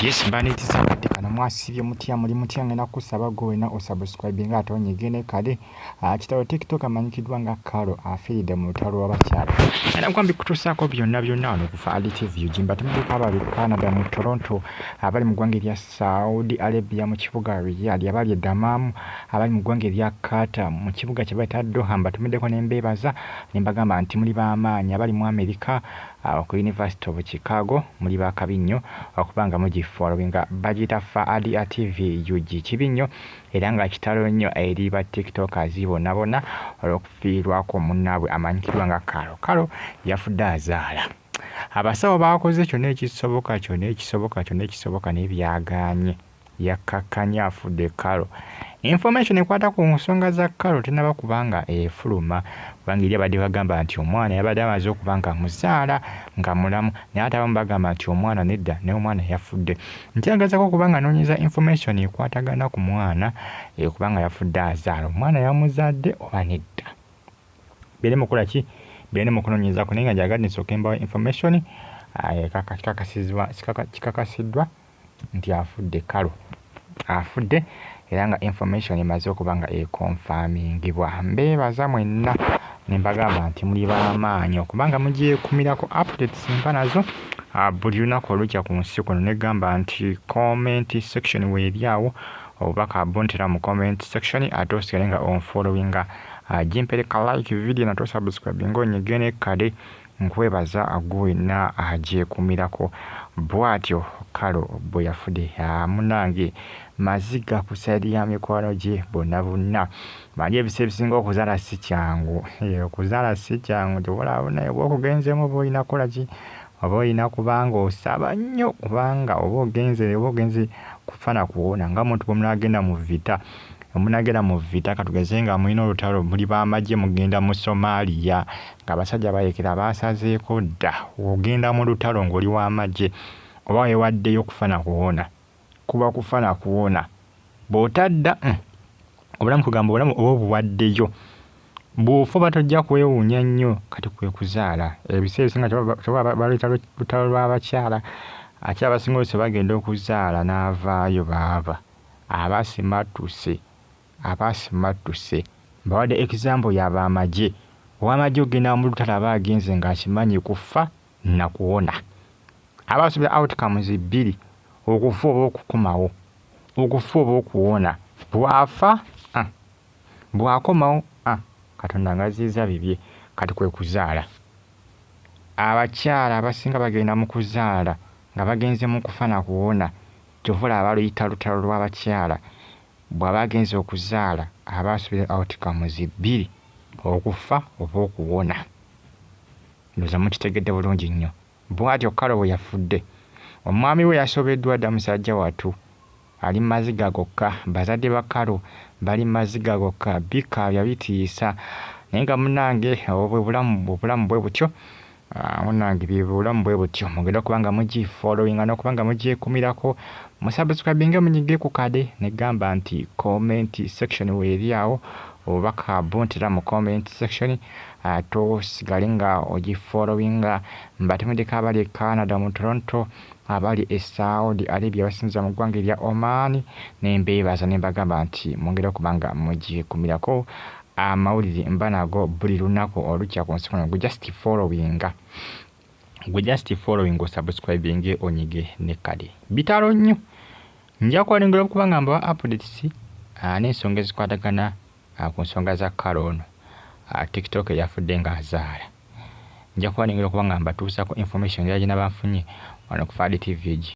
Yes baneti sakati kana mwasibye mutya muli mutya ngenda kusaba go wena osubscribe nga atonye gene kale akitawo ah, tiktok amanyikidwa nga karo afide ah, mu talo wabakyala era kwambi kutusako byonna byonna wano ku Fahad TV ujimba tumuka abali ku Canada mu Toronto abali mu gwanga erya Saudi Arabia mu kibuga Riyadh abali e Dammam abali mu gwanga erya Qatar mu kibuga kye bayita Doha mbatumideko ne mbebaza ne mbagamba nti muli ba maanyi abali mu America Awo ku University of Chicago muli ba kabi nnyo okuba nga mugi followinga. Bagiyita Faadia TV ug. Kibi nnyo era nga kitalo nnyo eri ba tiktokers bonabona olwokufiirwa kwo munabwe amanyikidwa nga Karo. Karo yafudde azaala. Abasawo bakoze kyona ekisoboka kyona ekisoboka kyona ekisoboka naye byaganye. yakkakkanye afudde Carol. Information ekwata ku nsonga za Carol tenaba kuba nga efuluma kubanga eri abadde bagamba nti omwana yabadde amaze okuba nga amuzaala nga mulamu naye ate abamu bagamba nti omwana nedda naye omwana yafudde. Nti agezako okuba nga anoonyeza information ekwatagana ku mwana eh, kuba nga yafudde azaala omwana yamuzadde oba nedda. Beere mukola ki? Beere mu kunoonyezako naye nga gyagadde nsooke mbawa information ah, ekakasizibwa kikakasiddwa nti afudde Kalu afudde era nga information emaze okuba nga ekonfamingibwa mbeebaza mwenna nembagamba nti muli bamaanyi okubanga mugyekumirako updates mba nazo ah, buli lunaku olukya ku nsi kuno negamba nti comment section weeri awo obubaka buntera mu comment section ate osigale nga onfollowinga ah, gimpereka like video nate osubscribe nga onyegene kade Nkwebaza gwe wenna agyekumirako bwatyo Carol bweyafude haa munange maziga ku side ya mikwano gye bonna bonna manyi ebisa ebisinga okuzala sikyangu hee okuzala sikyangu tebulabuna oba okugenzemu oba olina kolaki oba olina kubanga osaba nnyo kubanga oba ogenze oba ogenze kufa na kuwona nga muntu bwemunagenda mu vita omunagenda mu vita katugeze nga mulina olutalo muli bamagye mugenda mu somalia Ng'abasajja bayekera baasazeeko dda ogenda mu lutalo ng'oli wa magye oba weewaddeyo kufa na kuwona. Kuba kufa na kuwona. Bw'otadda mm, obulamu kugamba obulamu oba obuwaddeyo. Bw'ofa oba tojja kwewuunya nnyo kati kwe kuzaala. Ebiseera ebisinga kyebaba baluyita lutalo lw'abakyala ate abasinga oluusi bagenda okuzaala n'avaayo baaba aba asimattuse. Abasimattuse mbawadde example ya ba magye. Owamagye okugenda mulutalo aba agenze nga akimanyi kufa nakuwona. Aba asubira outcomes bbiri okufa oba okukomawo. Okufa oba okuwona. Bwafa ah bwakomawo ah katonda ngaziyiza bibye kati kwekuzaala. Abakyala abasinga bagenda mukuzaala nga bagenze mukufa nakuwona kyova olaba baluyita lutalo lwabakyala Bw'aba agenze okuzaala aba asubira outcomes bbiri, okufa oba okuwona. Ndowooza mukitegedde bulungi nnyo. Bw'atyo Carol bwe yafudde. Omwami we yasobeddwa dda musajja wattu. Ali mu maziga gokka. Bazadde ba Carol bali mu maziga gokka. Bikaabya bitiisa. Naye nga munnange obwo bwe bulamu, obulamu bwe butyo. Ah, munange byebulamu bwe butyo mugenda okuba nga mugifollowinga n'okuba nga mugyekumirako musubscribinge munyige ku kade negamba nti comment section weeri awo obubaka buntira mu comment section ah, tosigale nga ogifollowinga mbatemedeko abali e canada mu toronto abali e saudi arabia basinza mu ggwanga erya oman nembeebaza nembagamba nti mungeri okuba nga mugyekumirako amawulire mba nago buli lunaku olukya ku nsi kuno gwe just followinga gwe just following osubscribing onyige ne kale bitalo nnyo nja kwalengera okuba nga mbawa updates ah, n'ensonga ezikwatagana ah, ku nsonga za kale ono ah, tiktok eyafudde ng'azaala nja kwalengera okuba nga mbatuusako information yagina banfunye wano ku fadi tv gi